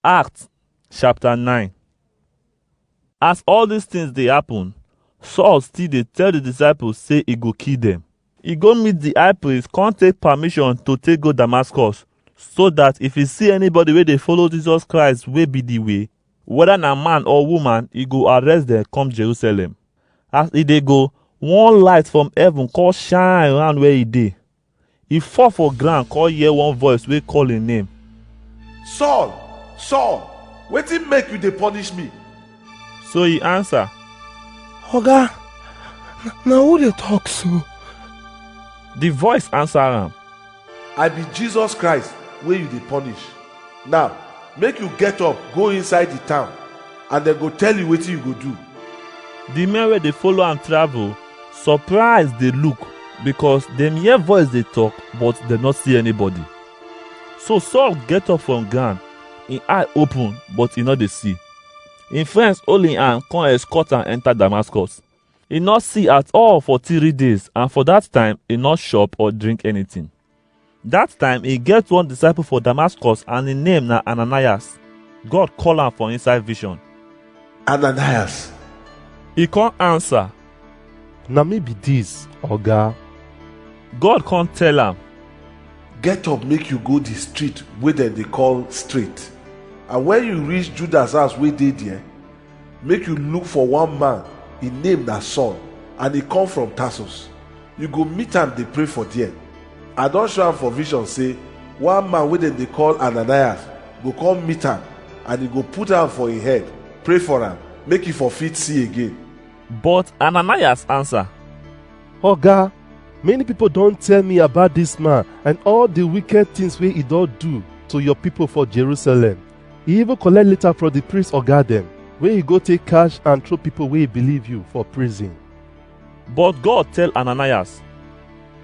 Acts chapter 9 As all these things dey happen, Saul still dey tell the disciples say he go kill them. He go meet the high priest, come take permission to take go Damascus, so that if he see anybody wey dey follow Jesus Christ wey be the way, whether na man or woman, he go arrest them come Jerusalem. As he dey go, one light from heaven come shine round where he dey. e fall for ground come hear one voice wey call im name. Saul, Saul, wetin make you dey punish me? So e answer, Oga, na- na who dey talk so? The voice answer am, I be Jesus Christ wey you dey punish. Now, make you get up, go inside the town, and dem go tell you wetin you go do. The men wey dey follow am travel surprise dey look because dem hear voice dey talk but dem no see anybody. So Saul get up from ground, im eye open but e no dey see. Im friends hold im hand come escort am enter Damascus. E no see at all for three days and for that time e no chop or drink anything. Dat time e get one disciple for Damascus and im name na Ananias. God call am for inside vision. Ananias, E come answer, Na me be dis, Oga. God come tell am, get up make you go the street wey dem dey call straight and when you reach judas house wey dey there Make you look for one man, im name na Saul, and e come from Tarsus. You go meet am dey pray for there. I don show am for vision say one man wey dem dey call Ananias go come meet am and e go put hand for im head, pray for am, make e for fit see again. But Ananias answer, Oga, many people don tell me about this man and all the wicked things wey he don do to your people for Jerusalem. He even collect letter from the priest oga dem wey he go take cash and throw people wey believe you for prison. But God tell Ananias,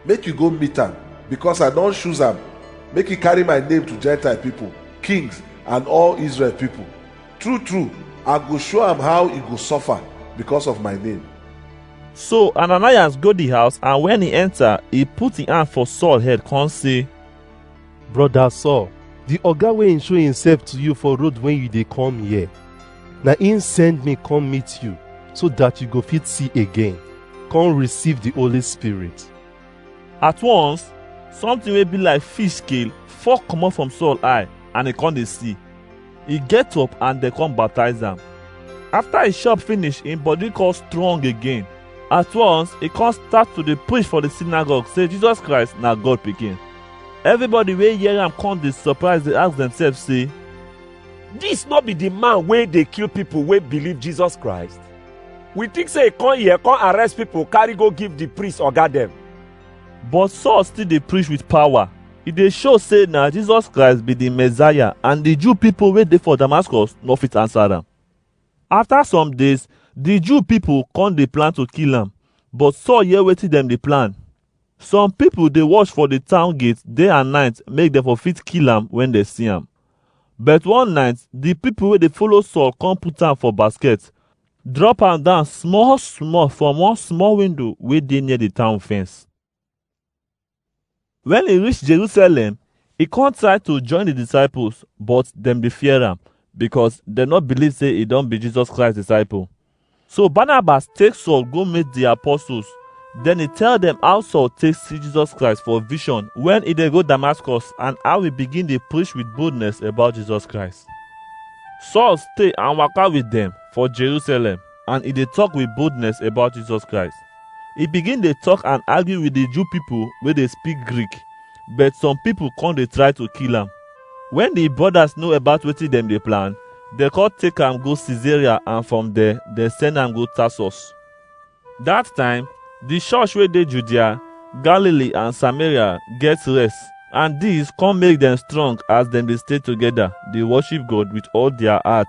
Make you go meet am, because I don choose am, make he carry my name to Gentile people, kings, and all Israel people. True, true, I go show am how he go suffer because of my name. So Ananias go the house and when he enter, he put his hand for Saul head come say, Brother Saul, the oga wey show himself to you for road when you dey come here, na him send me come meet you so that you go fit see again, come receive the Holy Spirit. At once, something wey be like fish scale fall comot from Saul eye and e come dey see. e get up and dem come baptize am. After e chop finish, im body come strong again. At once, e come start to dey preach for the synagogue say Jesus Christ na God pikin. Everybody wey hear am come dey surprise dey ask themselves say, Dis no be the man wey dey kill people wey believe Jesus Christ? We think say e come here come arrest people carry go give the priest oga dem. But Saul still dey preach with power. e dey show say na jesus christ be di messiah and di jew pipo wey dey for damascus no fit answer am afta some days di jew pipo come dey plan to kill am but saul hear wetin dem dey plan some pipo dey watch for di town gate day and night make dem for fit kill am wen dem see am but one night di pipo wey dey follow saul come put am for basket drop am down small small from one small window wey dey near di town fence Wen e reach Jerusalem, e kon try to join di disciples, but dem dey fear am, because dem no believe sey e don be Jesus Christ disciple. So Barnabas take Saul go meet di apostles, den e tell dem how Saul take see Jesus Christ for vision wen e dey go Damascus and how e begin dey preach with boldness about Jesus Christ. Saul stay and waka with dem for Jerusalem. and e dey talk with boldness about Jesus Christ. E begin dey talk and argue with the Jew people wey dey speak Greek, but some people come dey try to kill am. When the brothers know about wetin dem dey plan, dem come take am go Caesarea and from there dem send am go Tarsus. That time, the church wey dey Judea, Galilee and Samaria get rest and dis come make dem strong as dem dey stay together dey worship God with all their heart.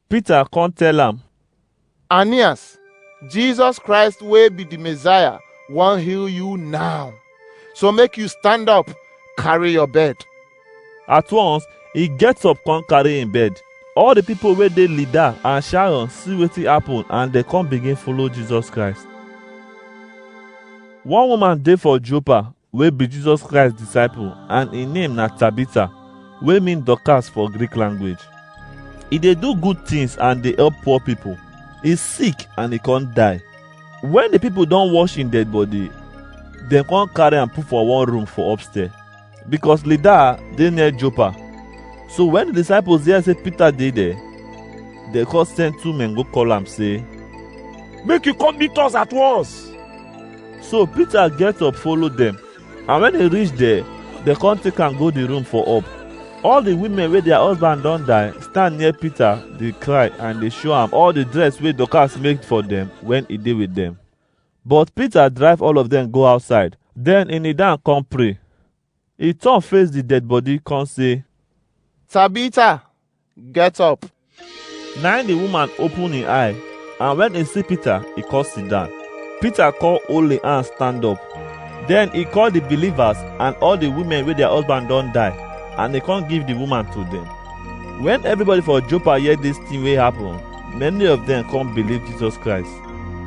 Peter come tell am, Ananias, Jesus Christ wey be the Messiah wan heal you now. So make you stand up, carry your bed. At once, he gets up come carry him bed. All the people wey dey Lydda and Sharon see wetin happen and dem come begin follow Jesus Christ. One woman dey for Joppa wey be Jesus Christ disciple and im name na Tabitha wey mean Dorcas for Greek language. E dey do good things and dey help poor people. E sick and e come die. When the people don wash im dead body, dem come carry am put for one room for upstairs because Lydda dey near Joppa. So when the disciples hear say Peter dey there, dem come send two men go call am say, Make you come meet us at once. So Peter get up follow dem and when e reach there, dem come take am go the room for up. All the women wey their husband don die stand near Peter dey cry and dey show am all the dress wey Dorcas make for dem when e dey with dem. But Peter drive all of them go outside. Then he kneel down come pray. He turn face the dead body come say, Tabitha, Get up. Na im the woman open im eye, and when e see Peter, e come sit down. Peter come hold im hand stand up. Then he call the believers and all the women wey their husband don die, and he come give the woman to them. When everybody for Joppa hear this thing wey happen, many of them come believe Jesus Christ.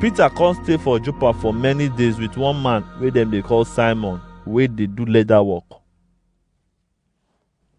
Peter come stay for Joppa for many days with one man wey dem dey call Simon, wey dey do leather work.